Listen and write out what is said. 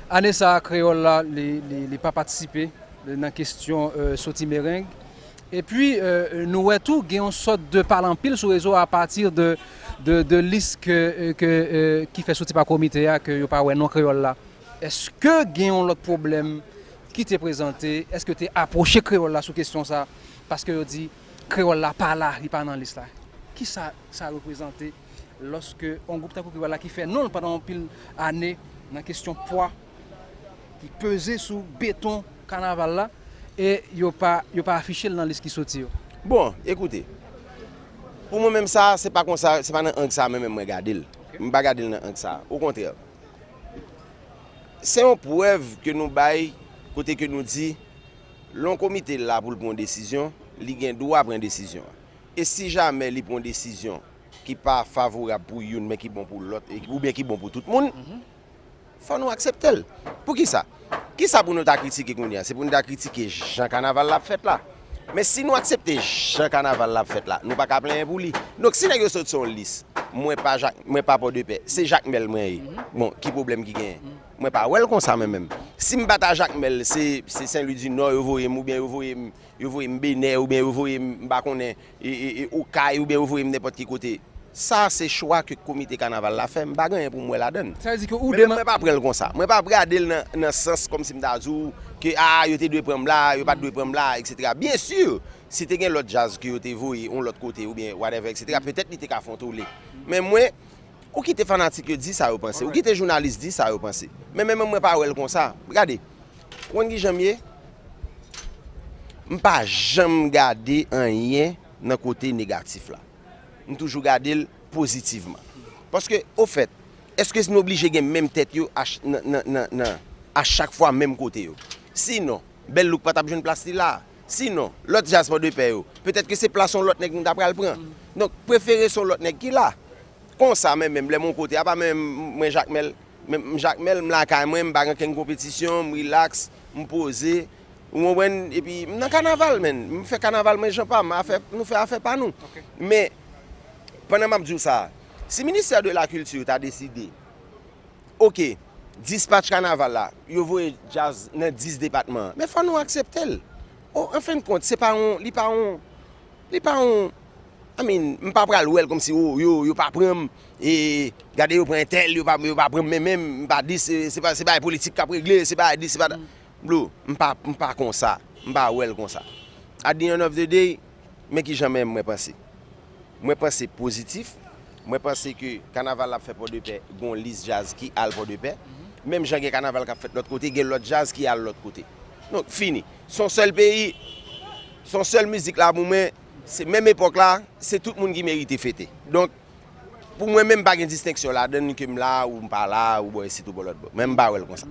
Ane sa a kreyòl la li pa patisipe nan kesyon soti mereng. Epi nou wè tou gen yon sòt de pale anpil sou rezo a pati de lis ki fè soti pa komite a ke yo pa wè non kreyòl la. Eske gen yon lòt pwoblèm ki te prezante? Eske yo te apwoche kreyòl la sou kesyon sa a? Paske yo di kreyòl la pa la, li pa nan lis la. Kisa sa reprezante? Lòske yon gwoup tankou Piwala ki fè non l pandan anpil ane nan kesyon pwa ki peze sou beton kanaval la e yo pa afiche l nan lis ki soti yo? Bon, ekoute, pou mwen menm sa a, se pa konsa, se pa nan ang sa a mwen menm mwen gade l. Mwen pa gade l nan ang sa a. Okontrè, se yon prèv ke nou bay kote ke nou di lè yon komite la pou l pran yon desizyon, li gen dwa pran desizyon an. E si jamè li pran yon desizyon ki pa favorab pou youn men ki bon pou lòt oubyen ki bon pou tout moun, fò nou aksepte l. Poukisa? Kisa pou nou ta kritike kounye a? Se pou nou ta kritike jan kanaval la ap fèt la? Men si nou aksepte jan kanaval la ap fèt la, nou pa ka plenyen pou li. Donk si nèg yo sot sou yon lis, mwen pa Jak, mwen pa Pòdepè, se Jakmèl mwen ye, bon, ki pwoblèm ki genyen? Mwen pa wè l konsa mwen menm. Si m pa ta Jakmèl, se Senlwidinò yo voye m oubyen yo voye m Yo voye m Benè oubyen yo voye m m pa konnen Okay oubyen yo voye m nenpòt ki kote. Sa se chwa ke komite kanaval la fè, m pa gen anyen pou m wè ladann. Men mwen pa pran l konsa. Mwen pa gade l nan sans kòmsi m ta di w ke a yo te dwe pran m la, yo pa t dwe pran m la eksetera. Byen si, si te gen lòt jazz ke yo te voye yon lòt kote oubyen whatever eksetera petèt li te ka fè yon tole. Men mwen, ou kite fanatik yo di sa yo panse, ou kite jounalis di sa yo panse. Men mwen menm mwen pa wè l konsa. Gade! Ou konn kijan m ye? M pa janm gade anyen nan kote negatif la. M toujou gade l pozitivman. Paske ofèt, èske nou oblije gen menm tèt yo a chak fwa menm kote yo? Si non, Bèl Louk pa t ap jwenn plas li la a. Si non, lòt djaz Pòdepè yo, petèt ke se plas yon lòt nèg nou ta pral pran. Donk, prefere se yon lòt nèg ki la. Konsa mwen menm, lè m yon kote, apa mwen menm mwen Jakmèl? Men m Jakmèl, m lakay mwen, m pa gen okenn konpetisyon, m rilaks, m poze, ou konprann, epi m nan kanaval menn, m fè kanaval mwen jan pa m, nou fè afè pa nou. Men, pandan m ap di w sa, si ministè de la kilti ta deside, ok, dispatch kanaval la, yo voye djaz nan 10 depatman an, men fò nou aksepte l. O, an fen kont, se pa yon, li pa yon, li pa yon. I mean m pa pral wèl kòmsi oh yo yo pa pranm e gade yo pran entèl yo pa pranm men menm m pa di se bagay politik kap regle se bagay dis se bagay dat bro m pa m pa konsa m pa wèl konsa at di end of the day men kijan menm mwen panse mwen panse pozitif mwen panse ke kanaval ap fè pòdepè gon lis jazz ki al pòdepè menm jan gen kanaval kap fèt lòt kote gen lòt jazz ki al lòt kote donk fini son sèl peyi son sèl mizik la pou mwen. Se menm epòk la, se tout moun ki merite fete. Donk, pou mwen menm pa gen distenksyon ladann ke m la ou m pa la, ou bò isit ou bò lòtbò. Mwen m pa wè l konsa.